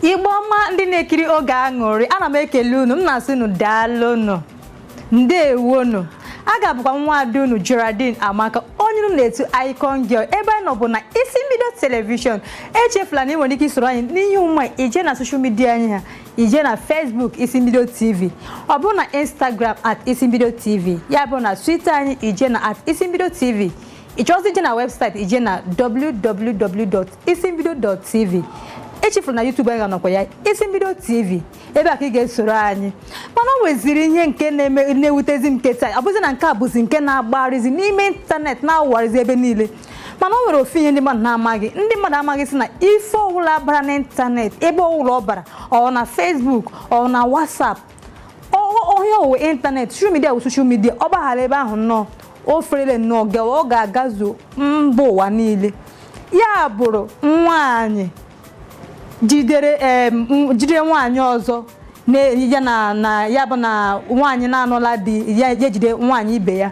igbo ọma ndị na-ekiri oge aṅụrị ana m ekele unu m na-asị unu daalụnụ ndewonu a ga-abụkwa nwa ada unu Geraldine Amaka onye unu na-etu Icon Girl ebe anyị nọ bụ na isi mbido telivishọn echefula na ị nwere ike isoro anyị n'ihe omume i jee na soshal midia anyị ha i jee na Facebook isi mbido TV ọ bụrụ na Instagram at isi mbido TV ya bụrụ na Twitter anyị i jee na at isi mbido TV ị chọọzi ije na webụsaịtị i jee na www.isimbido.tv echefula na YouTube anyị ga-anọkwa ya isi mbido tv ebe a ka ị ga-esoro anyị mana o nweziri ihe nke na-eme na-ewutezi m keta ọ bụzi na nke a bụzi nke na-agbarịzi n'ime ịntanetị na-awụgharịzi ebe niile mana o nwere ofu ihe ndị mmadụ na-amaghị ndị mmadụ amaghị sị na ife ọwụla bara n'ịntanetị ebe ọwụla ọ bara ọ na Facebook ọ na WhatsApp onye owe ịntanetị social media bụ social media ọ gbaghara ebe ahụ nnọọ o ferele nnọọ gawa ọ ga-agazu mba ụwa niile ya bụrụ nwaanyị jidere em, m- jide nwaanyị ọzọ na ya na na ya bụ na nwaanyị na-anụla di ya ya jide nwaanyị ibe ya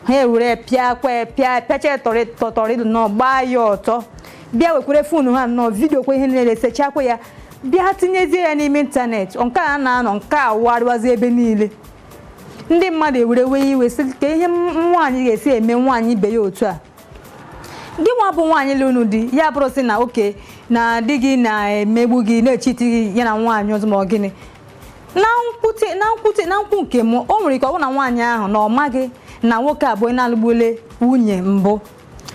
ha ewere pịa kwe pịa pịacha tọrị tọtọrị nnọọ gbaa ya ọtọ bịa wekwere fonu ha nnọọ vidio kwa ihe niile sechakwa ya bịa tinyezie ya n'ime ịntanetị nke a na-anọ nke a warịwazi ebe niile ndị mmadụ ewere wee iwe sị kee ihe nwaanyị ga-esi eme nwaanyị ibe ya otu a gị nwa bụ nwaanyị lụrụ di ya bụrụ sị na okay na di gị na-emegbu gị na-echiti gị ya na nwaanyị ọzọ ma ọ gịnị na nkwute na nkwute na nkwu nke m o nwere ike ọ bụ na nwaanyị ahụ na ọ maghị na nwoke ahụ na-alụgbule nwunye mbụ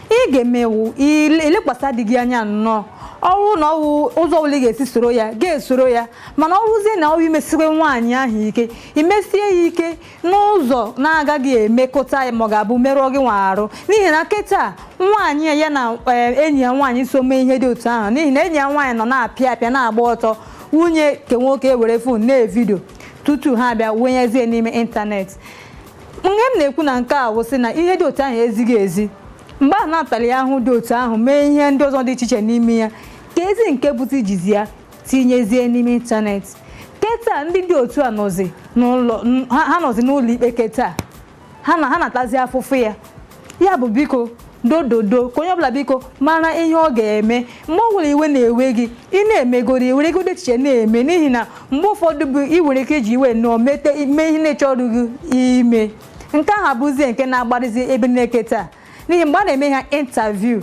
ị ga-emewu ilekwasị di gị anya nnọọ ọrụ na ọwụ ụzọ ọbụla ị ga-esi soro ya gị esoro ya mana ọrụzie na ọwụ imesiwe nwaanyị ahụ ike imesie ya ike n'ụzọ na-agaghị emekọta ya ma ọ ga-abịa merụọ gị nwa arụ n'ihi na kịta nwaanyị ya ya na eh, enyi ya nwaanyị so mee ihe dị otu ahụ n'ihi na enyi ya nwaanyị nọ na-apịa apịa na-agba ọtọ nwunye nke nwoke were fon na-evidio tutu ha abịa wenyezie n'ime ịntanetị ihe m na-ekwu na nke a wụsị na ihe dị otu ahụ ezighị ezi mgbe ahụ na-atara ya ahụhụ dị otu ahụ mee ihe ndị ọzọ dị iche iche n'ime ya ka ezi nke bụta ijizi ya tinyezie n'ime ịntanetị keta ndị dị otu a nọzi n'ụlọ n- ha ha nọzi n'ụlọ ikpe keta ha na ha na-atazi afụfụ ya ya bụ biko dododo ka onye ọbụla biko mara ihe ọ ga-eme mgbe ọ bụla iwe na-ewe gị ị na-emegoro i weregodi echiche na-eme n'ihi na mgbe ụfọdụ bụ ị nwere ike iji iwe nnọọ mete mee ihe ị na-achọrọdị ime nke ahụ abụzie nke na-agbarịzi ebe niile keta n'ihi mgbe a na-eme ha intaviu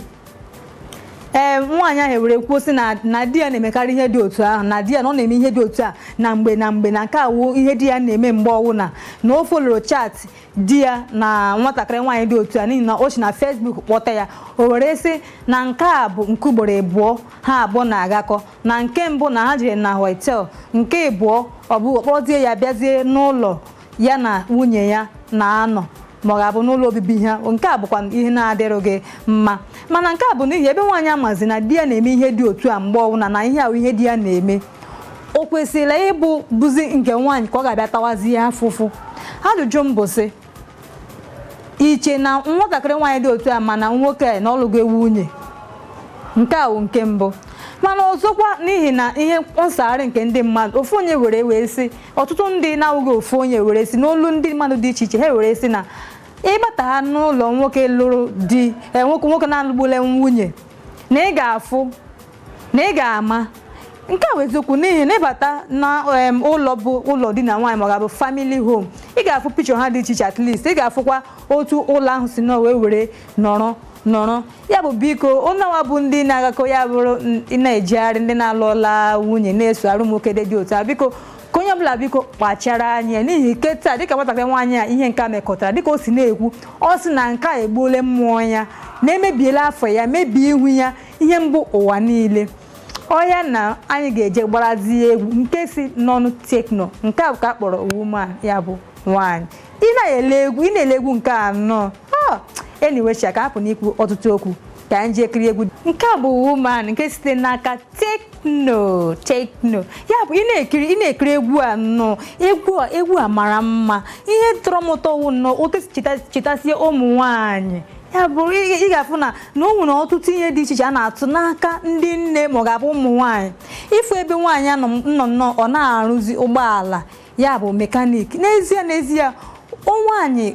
ee nwaanyị ahụ ewere kwuo sị na na di ya na-emekarị ihe dị otu ahụ na di ya na ọ na-eme ihe dị otu a na mgbe na mgbe na nke a wụ ihe di ya na-eme mgbe ọwụna na o foloro chaatị di ya na nwatakịrị nwaanyị dị otu a n'ihi na o si na Facebook kpọta ya o were sị na nke a bụ nke ugboro abụọ ha abụọ na-agakọ na nke mbụ na ha jere na hotel nke abụọ ọ bụ kpọzie ya bịazie n'ụlọ ya na nwunye ya na-anọ ma ọ ga-abụ n'ụlọ obibi ha nke a bụkwa ihe na-adịrịghị mma mana nke a bụ n'ihi ebe nwaanyị amazi na di ya na-eme ihe dị otu a mgbe ọbụla na ihe ahụ ihe di ya na-eme o kwesịrị ịbụ bụzi nke nwaanyị ka ọ ga-abịa tawazi ya afụfụ ajụjụ m bụ sị i che na nwatakịrị nwaanyị dị otu a mana nwoke a na ọ lụgo nwunye nke a wụ nke mbụ mana ọzọkwa n'ihi na ihe nsagharị nke ndị mmadụ ofu onye were wee sị ọtụtụ ndị na-awụghị ofu onye were sị n'olu ndị mmadụ dị iche iche ha were sị na ị bata ha n'ụlọ nwoke lụrụ di eh, nwoke nwoke na-alụgbule nwunye na ị ga-afụ na ị ga-ama nke a bụ eziokwu n'ihi na ị bata na em, ụlọ bụ ụlọ di na nwaanyị ma ọ ga-abụ family home ị ga-afụ picture ha dị iche iche at least ị ga-afụkwa otu ụlọ ahụ si nọ wee were nọrọ nọrọ ya bụ biko ụnụ nwa bụ ndị na-agakọ ya bụrụ ndị na-ejegharị ndị na-alụọla nwunye na-esogharị nwoke dị dị otu a biko ka onye ọbụla biko kpachara anya n'ihi kịtaa dịka nwatakịrị nwaanyị a ihe nke a mekọtara dịka o si na-ekwu ọ sị na nke a egbuole mmụọ ya na emebiela afa ya mebie ihu ya ihe mbụ ụwa niile ọya na anyị ga-eje gbarazie egwu nke si n'ọnụ tekno nke a bụ ka a kpọrọ woman ya bụ nwaanyị ị na-ele egwu ị na-ele egwu nke a nnọọ anyway sha ka hapụ n'ikwu ọtụtụ okwu ka anyị jee kirie egwu nke a bụ woman nke site n'aka tekno tekno ya bụ ị na-ekiri ị na-ekiri egwu a nnọọ egwu a egwu a mara mma ihe tọrọ m ụtọ wụ nnọọ otu o si cheta- chetasie ụmụ nwaanyị ya bụrụ ị ị ga-afụ na na o nwere ọtụtụ ihe dị iche iche a na-atụ n'aka ndị nne ma ọ ga-abụ ụmụ nwaanyị ị fụ ebe nwaanyị a nọ nnọọ ọ na-arụzi ụgbọala ya bụ mechanic n'ezie n'ezie o nwaanyị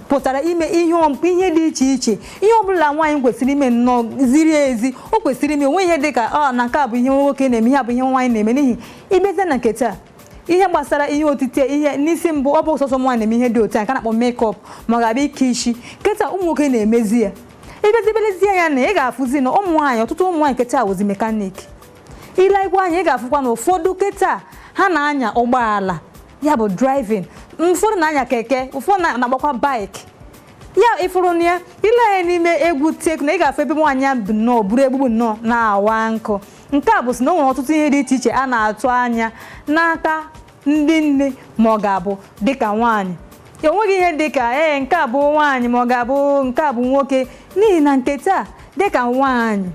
pụtara ime ihe ọ- ihe dị iche iche ihe ọbụla nwaanyị kwesịrị ime nnọọ ziri ezi o kwesịrị ime o nweghị ihe dị ka ọ na nke a bụ ihe nwoke na-eme ihe a bụ ihe nwaanyị na-eme n'ihi ị bịazie na nke taa ihe gbasara ihe otite ihe n'isi mbụ ọ bụ sọsọ nwaanyị na-eme ihe dị otu a ka a na-akpọ makeup ma ọ ga-abụ ike isi kịta ụmụ nwoke na-emezi ya ị bịazie lezie anya ị ga-afụzi na ụmụ nwaanyị ọtụtụ ụmụ nwaanyị kịta wụzi mechanic i lekwa anya ị ga-afụkwa na ụfọdụ kịta ha na-anya ụgbọala ya bụ driving ụfọdụ na-anya keke ụfọdụ na- na-agbakwa bike ya ị fụrụ na ya i lee anya n'ime egwu tekno ị ga-afụ ebe nwaanyị ya bụ nnọọ buru egbugbu nnọọ na-awa nkụ nke a bụ sị na o nwere ọtụtụ ihe dị iche iche a na-atụ anya n'aka ndị nne ma ọ ga-abụ dịka nwaanyị ya o nweghị ihe dịka ee nke a bụ nwaanyị ma ọ ga-abụ nke a bụ nwoke n'ihi na nke taa dịka nwaanyị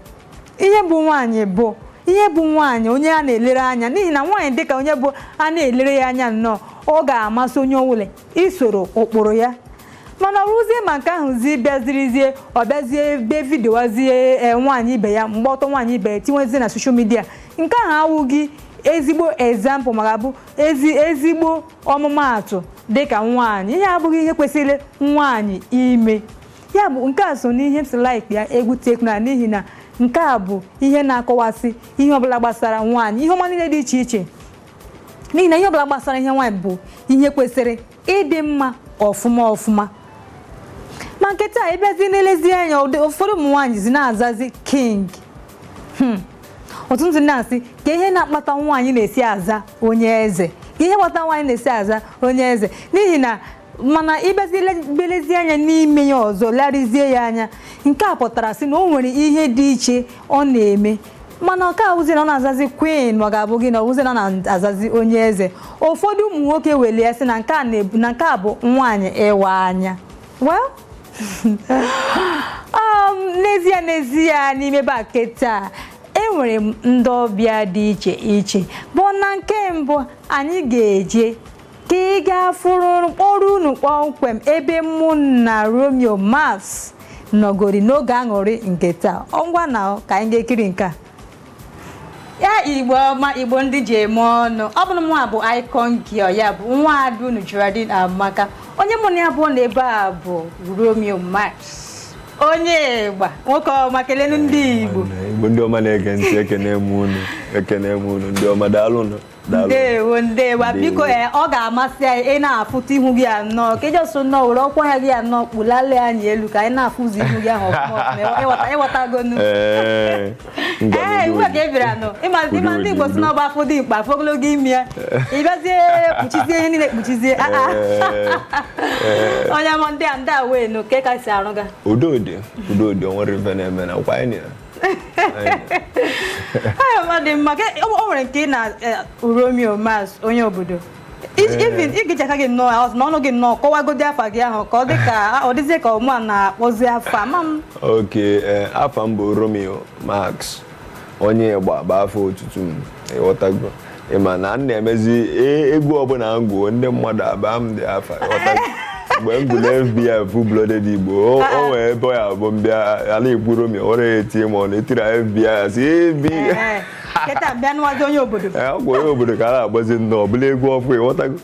ihe bụ nwaanyị bụ ihe bụ nwaanyị onye a na-elere anya n'ihi na nwaanyị dịka onye bụ a na-elere ya anya nnọọ ọ ga-amasị onye ọbụla isoro ụkpụrụ ya mana ọ wụzie ma nke ahụ zi bịazirizie ọ bịazie be vidiowazie e, nwaanyị ibe ya gba ọtọ nwaanyị ibe ya tinwezie na social media nke ahụ awụghị ezigbo example maka bụ ezi ezigbo ọmụmaatụ dịka nwaanyị ihe abụghị ihe kwesịrị nwaanyị ime ya bụ nke a so n'ihe m si like ya egwu Tekno a n'ihi na nke a bụ ihe na-akọwasị ihe ọbụla gbasara nwaanyị ihe ọma niile dị iche iche n'ihi na ihe ọbụla gbasara ihe nwaanyị bụ ihe kwesịrị ịdị mma ọfụma ọfụma ma nke taa ị bịazi na-elezi anya ụdị ụfọdụ ụmụ nwaanyị zi na-azazi king Hmm. ọtụtụ ndị na-asị ka ihe na-akpata nwaanyị na-esi aza onye eze ka ihe kpata nwaanyị na-esi aza onye eze n'ihi na mana ị bịazi be lezi anya n'ime ya ọzọ larịzie ya anya nke a pụtara sị na o nwere ihe dị iche ọ na-eme mana ọ ka-awụzi na ọ na-azazi queen ma ọ ga-abụ gịnị ọ wụzi na ọ na-azazi onye eze ụfọdụ ụmụ nwoke were ya sị na nke a na-ebu na nke a bụ nwaanyị ịwa anya well um, n'ezie n'ezie n'ime bake taa enwere m ndị ọbịa dị iche iche but na nke mbụ anyị ga-eje ka anyị ga-afụrụ kpọrọ unu kpọmkwem ebe mụ na Romeo Max nọgori n'oge aṅụrị nke taa ngwa nụ ka anyị ga-ekiri nke a ya Igbo ọma Igbo ndị ji eme ọnụ ọ bụ nụ mụwa bụ icon girl ya bụ nwa ada unu Geraldine Amaka onye mụ na ya bụ na ebe a bụ Romeo Max onye ịgba nwoke ọma kelenu ndị Igbo Igbo ndị ọma na-ege ntị ekene m unu ekene m unu ndị ọma daalụ nụ ndewo ndewo biko eh, ọ ga-amasị anyị ịna-afụta ihu gị ahụ ka ị just nnọọ were ọkwa ya gị ahụ kpụlalie anyị elu ka anyị na-afụzi ihu gị ahụ ị ghọtago nu ee iwe ka ị bịara nụ ị ma ndị Igbo sị na ọ bụ afụ dimkpa afụ ogologo imi ya ị bịazie kpuchizie ihe niile kpuchizie ah, ah. onye mọ ndị a ndewo nụ kee ka i si arụ ga udo dị udo dị o nwere ife na-eme na kwa anyị ọ dị mma o nwere nke ị na eh, Romeo Max onye obodo even eh. i jicha aka gị nnọọ ya ọzọ na ọnụ gị nnọọ kọwagodi afa gị ahụ ka ọ dị ka ọ dịzie ka ọ mụwa na-akpọzi afa ma m ok eh, afa m bụ Romeo Max onye ịgba bụ afa otutu m ị ghọtago ị ma na m na-emezi e- egwu ọbụla m gụọ ndị mmadụ abaa m dị afa ị ghọta mgbe m gụrụ FBI full blooded Igbo o o nwee ebe ya bụ m bịa ala Igbo Romeo were ya etie ma ọ na-etiri FBI ya si ebi Ee, kịta bịa nụwazi onye obodo Ee, ọ gwara obodo ka a na-akpọzi nnọọ ọ bụla egwu ọfụụ ị ghọtago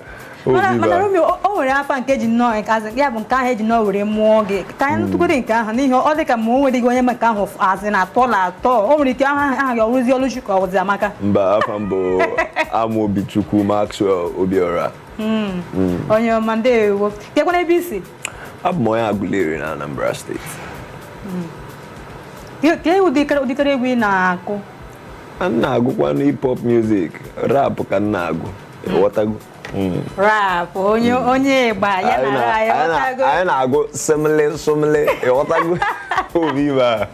O mana Viva. mana Romeo o- o nwere afa nke ji nnọọ nke as in ya bụ nke ahụ eji nnọọ were mụọ gị ka anyị nụtụgodi nke ahụ n'ihi ọ dị ka ma o nweghị onye ma nke ahụ f- azị na atọ na atọ o nwere ike ahụ aha gị ọ bụzi Ọlụchi ka ọ bụzi Amaka mba afa m bụ Amaobichukwu Maxwell Obiora onye ọma ndewo keekwanụ ebe i si abụ m onye agụleri na anambra steeti Ke- kee ụdịkịrị ụdịkịrị egwu ị na-akụ m na-agụkwanụ hip hop music rap ka m na-agụ ghọtago rap onye onye ịgba ya na ra ya ghọtago anyị na-agụ sumeli sumeli ịghọtago obi ibe a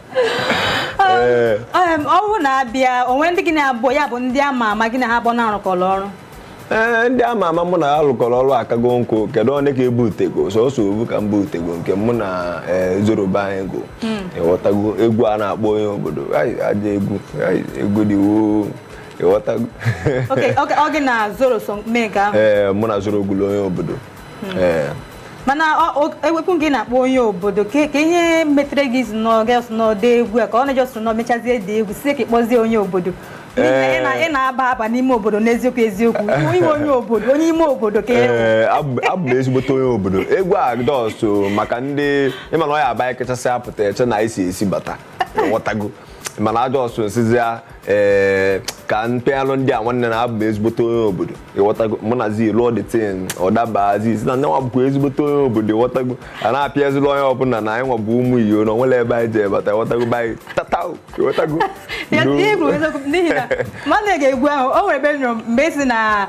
Ee. Em, ọ bụrụ na a bịa o nwee ndị gị na-abụ ya bụ ndị ama ama gị na ha abụọ na-arụkọrọ ọrụ ee ndị ama ama mụ na ya lụkọrọ ọrụ akago nkụ kedu onye ka ebutego sọsọ ofu ka m butego nke mụ na ee, Zoro be anyị gụ ịghọtago egwu a na-akpọ onye obodo Ai, ajọ egwu Ai, egwu dị woo ịghọtago Okay, okay, ọ gị na Zoro so mee nke ahụ ee mụ na Zoro gụlụ onye obodo ee mana ọ- ọ- ewepụ gị na-akpọ onye obodo kee kee ihe metere gị ị just nọ ị just nọ dee egwu a ka ọ na ị just nọ mechazie dee egwu sị ka ị kpọzie onye obodo N'ihi na ị na- ị na-aba aba n'ime obodo n'eziokwu eziokwu ị bụ onye obodo onye ime obodo ka ị bụ. ee abụ abụ m ezigbote onye obodo egwu a just maka ndị ịma na ọ ya-abụ anyị kechasịa pụta e chee na anyị si esi bata ịghọtago mana just m sịzị ya ee ka m pịalụ ndị a nwanne na abụ m ezigbote onye obodo ịghọtago mụ na Zi lụọ the thing ọ daba as in na nyanwa bụkwa ezigbote onye obodo ịghọtago a na-apịazịlị onye ọbụla na anyị nwa bụ ụmụ iyo na onwerọ ebe anyị je bata ịghọtago be anyị tata ịghọtago n'ihi na m na-ege egwu ahụ o nwere ebe m nụrụ mgbe ị sị na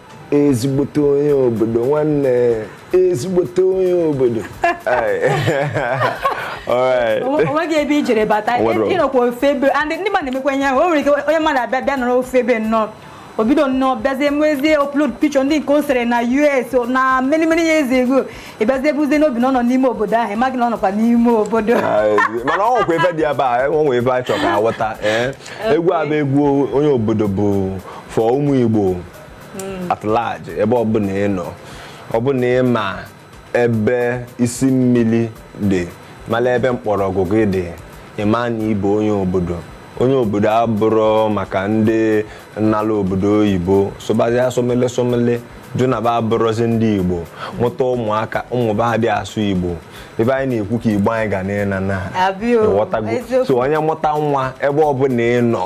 ezigbote onye obodo nwanne ezigbote onye obodo onweghị ebe i jere bata ịnọkwa ofe ebe ndị mmadụ na-emekwa ihe ahụ o nwere ike onye mmadụ abịa bịa nọrọ ofe ebe nnọọ o bido nnọọ bịazie mezie upload picture ndị nke o sere na US na many many years ago ị bịazie buzie n'obi na ọ nọ n'ime obodo ahụ ịmaghị na ọ nọkwa n'ime obodo mana ọ nwekwa ebe dị ebe a ọ nwee ebe a chọrọ ka a ghọta egwu a bụ egwu onye obodo bụ for ụmụ Igbo at large ebe ọbụla ị nọ ọ bụ na ị ma ebe isi mmiri dị mara ebe mkpọrọgwụ gị dị ịma na ịbụ onye obodo onye obodo abụrọ maka ndị nọ n'ala obodo oyibo sụbazịa sumeli sumeli jụ na ba abụrọzi ndị igbo mụta ụmụaka ụmụ ba adị asụ igbo ebe anyị na-ekwu ka igbo anyị ga na-ena na Abịa o, ịghọtago? eziokwu. so onye mụta nwa ebe ọbụla ị nọ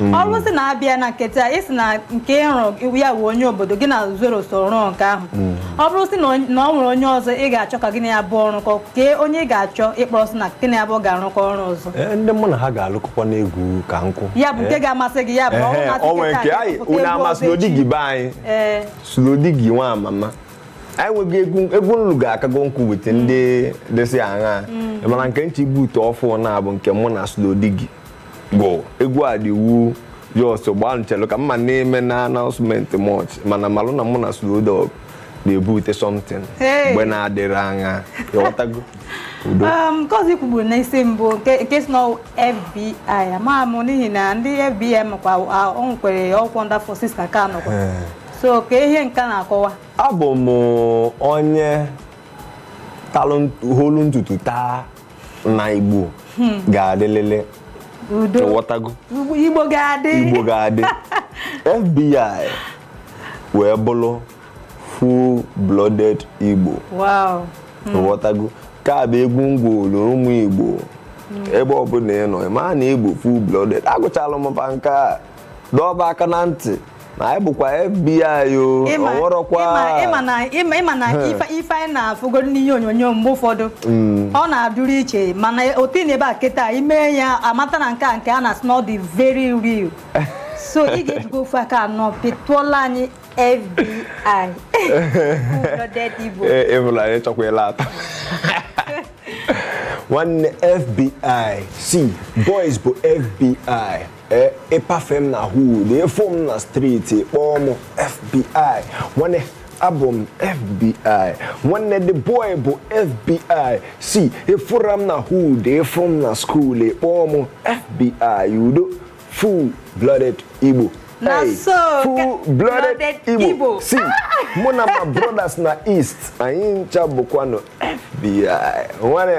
Mm. ọ bụzi na a bịa na nke taa ị sị na nke ịrụ ya bụ onye obodo gị na Zoro so rụọ nke ahụ mm. ọ bụrụ sị na ọ nwere onye ọzọ ị ga-achọ ka gị na ya bụ ọrụkọ kee onye ị ga-achọ ịkpọrọ sị na gị na ya bụ ga-arụkọ ọrụ ọzọ eh, ndị mụ na ha ga-alụkọkwa n'egwu ka nkụ ya bụ nke eh. ga-amasị gị ya bụ ọrụ masị gị ka nke anyị unu ama Slowdiggy be anyị eh. Slowdiggy nwa mama anyị nweghị egwu egwu m lụ ga-akago nkwụ wete ndị dịsị aṅa mm. mana nke nche ibute ọfụ na-abụ nke mụ na Slowdiggy bụ egwu a dị wu just gbaa m chelu ka mma na-eme na announcement much mana malụ na mụ na Slowdog na-ebute something Hey. mgbe na-adịrị anya ị ghọtago udo Um, nke ọzọ i kwugburu n'isi mbụ nke nke sị na FBI ama m n'ihi na ndị FBI makwa a- ọ nwekwere ọ kwa ndị forces na ka nọkwa so kee ihe nke a na-akọwa abụ m onye talụ nt- hụlụ n'ụtụtụ taa na igbo hmm. ga-adịlịlị udo ị ghọtago igbo ga-adị igbo ga-adị fbi wee bụrụ full blooded igbo hmm. ị ghọtago nke a bụ egwu m gụọlụ ụmụ igbo hmm. ebe ọbụla ị nọ ị maa na ị bụ full blooded agụchala m mba nke a dọba aka na ntị na anyị bụkwa FBI o Ịma- ọ wụrọkwa ịma- ịma na- ịma- ịma na ife ife anyị na-afụgodo n'ihe onyonyo mgbe ụfọdụ ọ na-adịrị iche mana otu ị nọ ebe a kịta i mee ya amata na nke a nke a na-asị na ọ dị very real so ị ga-ejigo ofu aka anọ pịtụọla anyị FBI Blooded Igbo. Ee, ịbụla anyị chọkwa ịla ata nwanne FBI sị boys bụ FBI ee ị pafee m na hood ị fụ m na street kpọọ m fbi nwanne abụ m fbi nwanne the boy bụ fbi sị ị fụra m na hood ị fụ m na school kpọọ m fbi udo full blooded igbo Na Hey, so ka- full blooded blooded igbo Igbo. sị mụ na my brothers na east anyị ncha bụkwanụ fbi nwanne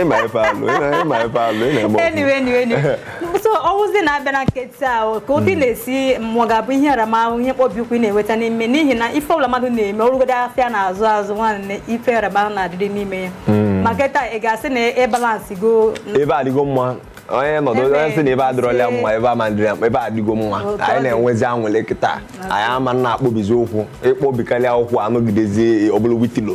ịma ife alụ ịma ife alụ ị na-eme ọfụma. anyway anyway anyway so ọ wụzi na a bịa na nke taa o, ka otu ị na-esi mmụọ ga-abụ ihe aramahụ ihe mkpọbi ụkwụ ị na-enweta n'ime n'ihi na ife ọbụla mmadụ na-eme ọ rụgodo afịa na-azụ azụ nwanne ife aramahụ na-adịrị n'ime ya ma nke taa ị ga-asị na ị balancego ebe adịgo mma onye nọdụ Ebe onye sị na ebe adịrọla ya ise. mma ebe ama dịrị ya mma ebe adịgo mma Otu ọ anyị dị. na-enwezi aṅụlị kịta anyị ama na-akpọbizi ụkwụ ị kpọbikarịa ụkwụ anọgidezie ọbụla witilo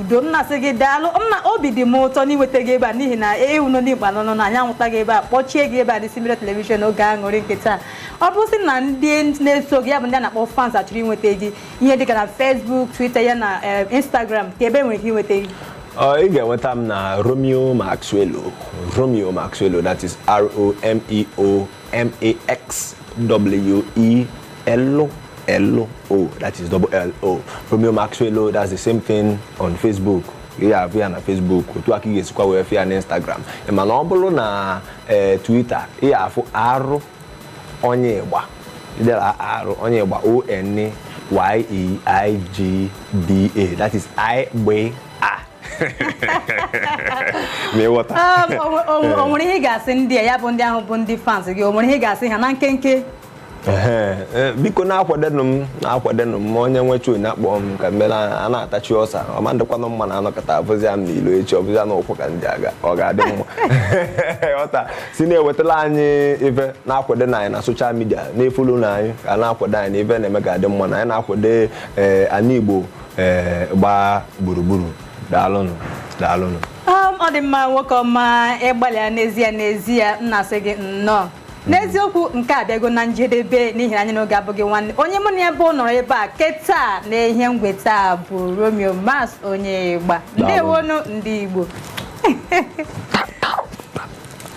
udo m na-asị gị daalụ m na obi dị m ụtọ n'inweta gị ebe a n'ihi na ewu nọ n'igba nọ nọ na anyị anwụta gị ebe a kpọchie gị ebe a n'Isi Mbido telivishọn oge aṅụrị nke taa ọ bụ sị na ndị na-eso gị ya bụ ndị a na-akpọ fans achọrọ inweta gị ihe dịka na Facebook Twitter ya na eh, Instagram ka ebe e nwere ike inweta gị Ọ, ị ga-enweta m na Romeo Maxwello Romeo Maxwello that is R-O-M-E-O M-A-X-W-E L-L-O, that is double L O. Romeo Maxwello, that's the same thing on Facebook. Ị ga-afụ ya na Facebook, otu aka ị ga-esikwa wee fụ ya na Instagram. Mana ọ bụrụ na eh, Twitter, ị ga-afụ R Onyeigba. I dee R Onyeigba O N Y E I G B A. That is I G B A. Ma ị ghọta. Ah, o- o- o nwere ihe ị ga-asị ndị a ya bụ ndị ahụ bụ ndị fans gị o nwere ihe ị ga-asị ha na nkenke e, biko na-akwadenụ m na-akwadenụ m onye nwe show na-akpọ m ka m mere ya na-atachi ọsa ọ ma adịkwanụ mma na a nọkọta a fụzi m n'ilo echi ọ bụzi na ụkwụ ka m ji aga ọ ga-adị mma ọta si na-ewetara anyị ife na-akwadonụ anyị na soshal midia na-efolonụ anyị ka na-akwado anyị na ife na-eme ga-adị mma na anyị na-akwado e, anyị igbo e, gbaa gburugburu daalụnụ daalụnụ um, ọ dị mma nwoke ọma ị gbalịala n'ezie n'ezie m na-asị gị nnọọ n'eziokwu nke a abịago na njedebe n'ihi na anyị n'oge abụghị nwanne onye mụ na ya bụ nọrọ ebe a kịtaa na ihe ngweta a bụ Romeo Max Onyeigba ndewonụ ndị igbo